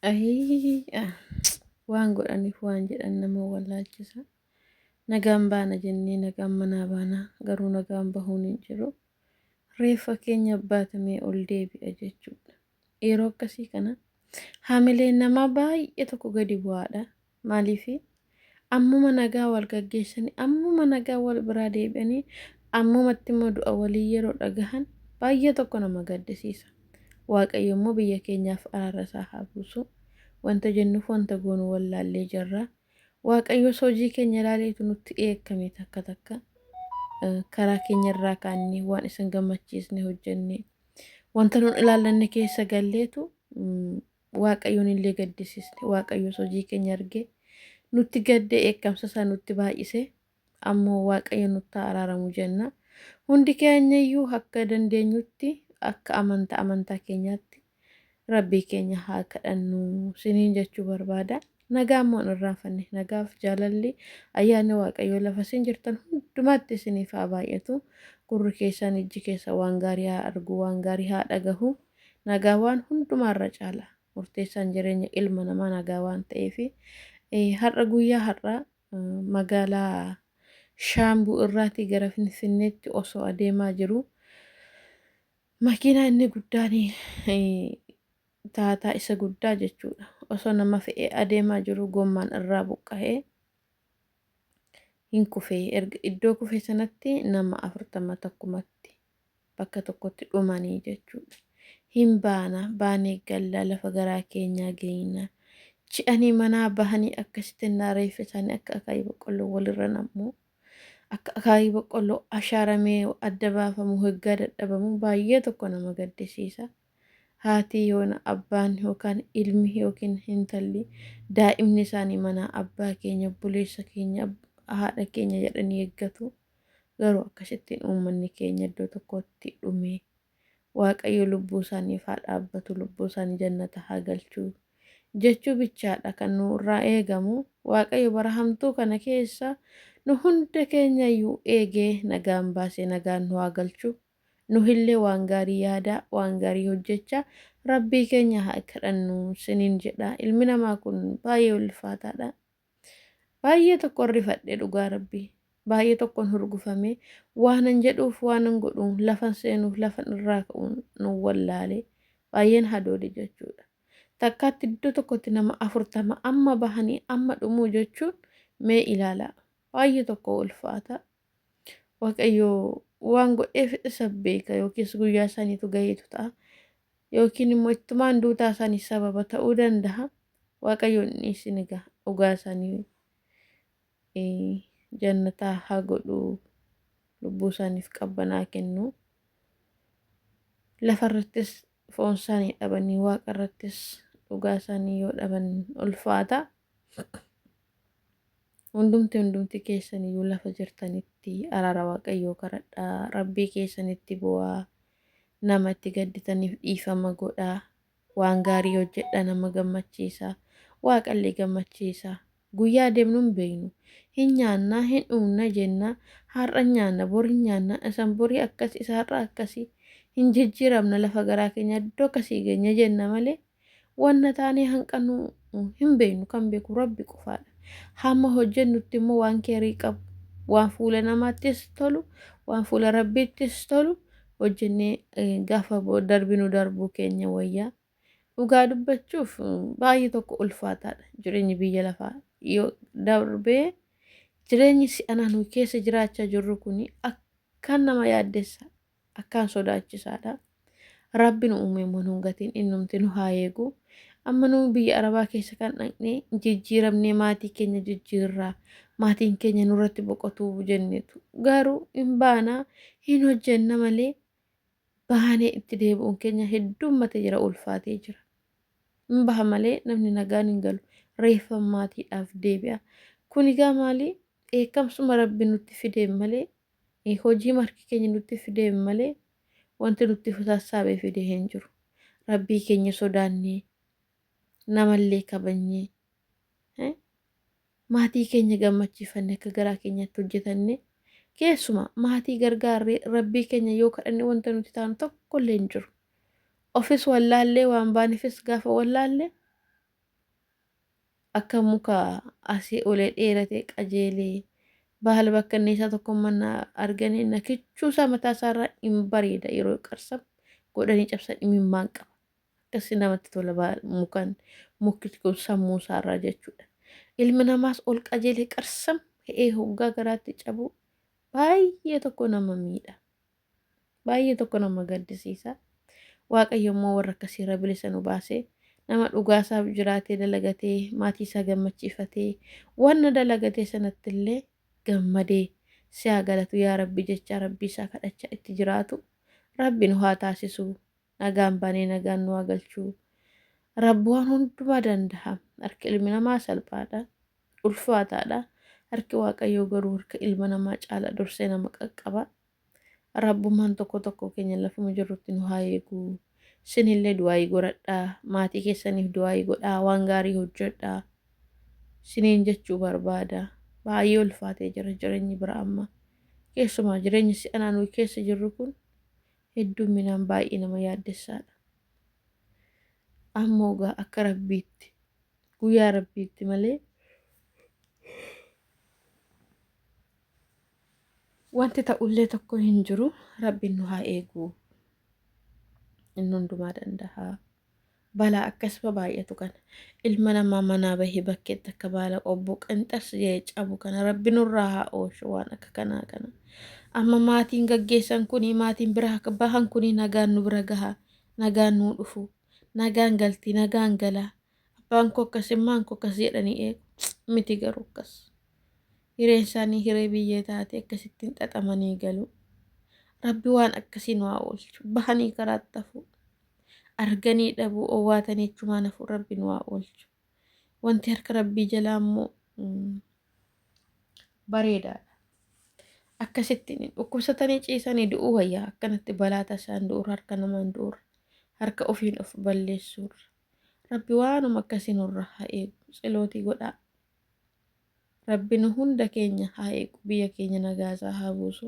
Ayii ah, waan godhaniif waan jedhan nama wallaalchisa. Nagaan baana jennee nagaan manaa baana garuu nagaan bahuun hin jiru. Reeffa keenya baatamee ol deebi'a jechuudha. Yeroo akkasii kana hamileen namaa baay'ee tokko gadi bu'aadha. Maaliifi? Ammuma nagaa wal gaggeessanii, ammuma nagaa wal biraa deebi'anii, ammumatti immoo du'a walii yeroo dhagahan baay'ee tokko nama gaddisiisa. Waaqayyo immoo biyya keenyaaf araara isaa haa buusu. Wanta jennuuf wanta goonu wallaallee jirra. Waaqayyos hojii keenya ilaaleetu nutti dheekkame takka takka. Karaa keenya irraa kaannee waan isin gammachiisne hojjenne. Wanta nun ilaallanne keessa galleetu Waaqayyoon illee gaddisiisne. Waaqayyos hojii keenya argee nutti gaddee dheekkamsa isaa nutti baay'isee ammoo Waaqayyo nutti haa araaramu jenna. Hundi keenya iyyuu akka dandeenyutti akka amantaa amantaa keenyaatti rabbii keenya haa kadhannu siniin jechuu barbaada. Nagaa immoo hin irraanfanne. Nagaaf jaalalli ayyaanni Waaqayyoo lafa isin jirtan hundumaatti isiniif haa baay'atu. Gurri keessan ijji keessan waan gaarii haa argu, waan gaarii haa dhagahu. Nagaa waan hundumaa irra caala. Murteessaan jireenya ilma namaa nagaa waan ta'eef har'a guyyaa har'aa magaalaa Shaambuu irraatii gara Finfinneetti osoo adeemaa jiru makiinaa inni guddaan Taataa isa guddaa jechuudha. Osoo nama fe'ee adeemaa jiruu gommaan irraa buqqahee hin kufe. Erga iddoo kufe sanatti nama afurtama takkumatti bakka tokkotti dhumanii jechuudha. Hin baana, baanee galla lafa garaa keenyaa geeyna. Ci'anii manaa bahanii akkasitti innaa reeffi isaanii akka akaayii boqqolloo walirra nammu. Akka akaayii boqqolloo ashaaramee adda baafamu hoggaa dadhabamu baay'ee tokko nama gaddisiisa. Haati yoona abbaan yookaan ilmi yookiin hintalli daa'imni isaanii manaa abbaa keenya obboleessa keenya haadha keenya jedhanii eeggatu garuu akkasittiin uummanni keenya iddoo tokkotti dhume waaqayyo lubbuu isaaniif haa dhaabbatu lubbuu isaanii jannata haa galchu jechuu bichaadha kan nu irraa eegamu waaqayyo bara hamtuu kana keessa nu hunda keenya iyyuu eegee nagaan baasee nagaan nu haa galchu Nuhillee waan gaarii yaadaa, waan gaarii hojjechaa Rabbii keenya haa kadhannu siniin jedha. Ilmi namaa kun baay'ee ulfaataadha. Baay'ee tokkon rifadhe dhugaa Rabbii. Baay'ee tokkon hurgufame. Waanan jedhuuf waanan godhu lafan seenuuf lafan irraa ka'uun nan wallaale. Baay'een hadoode jechuudha. Takkaatti iddoo tokkotti nama afurtama amma bahanii amma dhumuu jechuun mee ilaalaa. Baay'ee tokko ulfaata. Waaqayyo waan godheef isa beeka yookiis guyyaa isaaniitu gaheetu ta'a. Yookiin immoo ittumaan duutaa isaanii sababa ta'uu danda'a. Waaqayyoon dhiisin egaa dhugaa isaanii eh, jannataa haa godhu lubbuu isaaniif qabbanaa kennu. Lafa irrattis foon isaanii dhabanii waaqa irrattis dhugaa isaanii yoo dhaban ulfaata. Hundumti hundumti keessan iyyuu lafa jirtanitti araara Waaqayyoo kadhadhaa, Rabbii keessanitti boo'aa, nama itti gadditaniif dhiifama godhaa, waan gaarii hojjedhaa nama gammachiisaa, Waaqallee gammachiisaa. Guyyaa deemnu hin beeknu. Hin nyaanna, hin dhuunna jenna, har'a hin nyaanna, bor hin nyaanna, isan borii akkasi, isa har'aa akkasi, hin jijjiiramna lafa garaa keenya iddoo akkasii geenya jenna malee, Wanna taanee hanqannu hin beeknu, kan beeku Rabbi qofaadha. Hamma hojjennutti immoo waan keerii qabu, waan fuula namaattis tolu, waan fuula Rabbiittis tolu hojjennee eh, gaafa bo- darbinu darbuu keenya wayya. Dhugaa dubbachuuf eh, baay'ee tokko ulfaataadha jireenyi biyya lafaa. Yoo darbee jireenyi si'anaa nuyi keessa jiraachaa jirru kun akkaan nama yaaddessa. akkaan sodaachisaadha. Rabbi nu uumee immoo nun gatiin innumti nu haa eegu. Amma nu biyya Arabaa keessa kan dhaqne jijjiiramnee maatii keenya jijjiirraa maatiin keenya nurratti boqotuu jenneetu. Garuu hin baana hin hojjenna malee baanee itti deebi'uun keenya heddummate jira ulfaatee jira. Hin baha malee namni nagaan hin galu. Reeffa maatiidhaaf deebi'a. Kun egaa maali? Dheekkamsuma Rabbi nutti fideen malee Hojiima harki keenya nutti fideen malee wanti nutti sassaabe fide hin jiru. Rabbii keenya sodaannee, namallee kabajnee, eh, maatii keenya gammachiifanne akka garaa keenyaatti hojjetanne keessumaa maatii gargaarree rabbii keenya yoo kadhanne wanta nuti taanu tokkollee hin jiru. Ofis wallaallee waan baanefis gaafa wallaalle Akka muka asii olee dheeratee qajeelee baala bakkanneessaa tokko manna arganii na kichuusaa mataa isaarraa in bareeda yeroo qarsam godhanii cabsan imimmaan qaba. Akkasii namatti tola baal- mukan mukti kun sammuu isaarraa jechuudha. Ilmi namaas ol qajeelee qarsam he'ee hoggaa garaatti cabuu baay'ee tokko nama miidha. Baay'ee tokko nama gaddisiisa. Waaqayyo immoo warra akkasii irra bilisa nu baasee nama dhugaa isaaf jiraatee dalagatee maatii isaa gammachiifatee wanna dalagatee sanatti illee gammadee si haa galatu yaa rabbi jechaa rabbii isaa kadhachaa itti jiraatu rabbi nu haa taasisuu nagaan baanee nagaan nu haa galchuu rabbi waan hundumaa danda'a harki ilmi namaa salphaadha ulfaataadha harki waaqayyoo garuu harka ilma namaa caala dursee nama qaqqaba Rabbumaan tokkoo tokkoo keenya lafuma jirrutti nu haa eegu. Sinillee du'aayii goradhaa. Maatii keessaniif du'aayii godhaa. Waan gaarii hojjedhaa. Siniin jechuu barbaada. Baay'ee ulfaatee jira jireenyi bira amma. Keessumaa jireenyi si'anaa nuyi keessa jirru kun hedduminaan baay'ee nama yaaddessaadha. Ammoo gaa akka rabbiitti guyyaa rabbiitti malee Wanti ta'ullee tokko hin jiru rabbiin nu haa eegu inni hundumaa danda'a balaa akkasuma baay'atu kana ilma namaa manaa bahee bakkeetti akka baala qobbuu qinxas jee cabu kana rabbi nurraa haa oolchu waan akka kanaa kana amma maatiin gaggeessan kunii maatiin bira akka bahan kunii nagaan nu bira gaha nagaan nuu dhufu nagaan galti nagaan gala Abbaan koo akkas immaan koo akkas jedhanii eegu miti garuu akkas hireen isaanii hiree biyyee taate akkasittiin xaxamanii galu rabbi waan akkasii nu haa oolchu bahanii karaatti hafuu arganii dhabuu owwaatanii achumaan hafuu rabbi nu haa oolchu wanti harka rabbii jalaa immoo mm, bareedaadha akkasittiin dhukkubsatanii ciisanii du'uu wayyaa akkanatti balaa tasaan du'uurra harka namaan du'uurra harka ofiin of balleessuurra Rabbi waanuma akkasi nurra ha eegu tselooti godhaa Rabbi nu hunda keenya ha eegu biyya keenya nagaa isaa haa buusu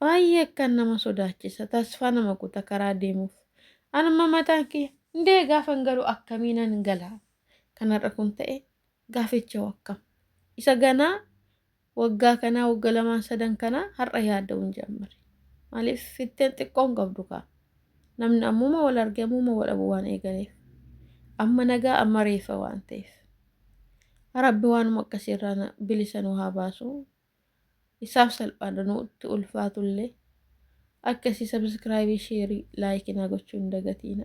baay'ee akkaan nama sodaachisa tasfaa nama kuta karaa deemuuf an amma mataan kiyya ndee gaafan galu akkamiinan gala kan har'a kun ta'e gaafichoo akkam isa ganaa Waggaa kanaa wagga lamaan sadan kanaa har'a yaadda'uun jammare. Maaliif fitteen xiqqoon qabdu kaa. Namni ammuma wal arge ammuma wal dhabu waan eegaleef. Amma nagaa amma reeffa waan ta'eef. Rabbi waanuma akkasii irraa na- bilisa nu haa baasu. Isaaf salphaadha nutti ulfaatullee. Akkasii sabiskiraayibii sheerii laayikii naa gochuu hin dagatiina.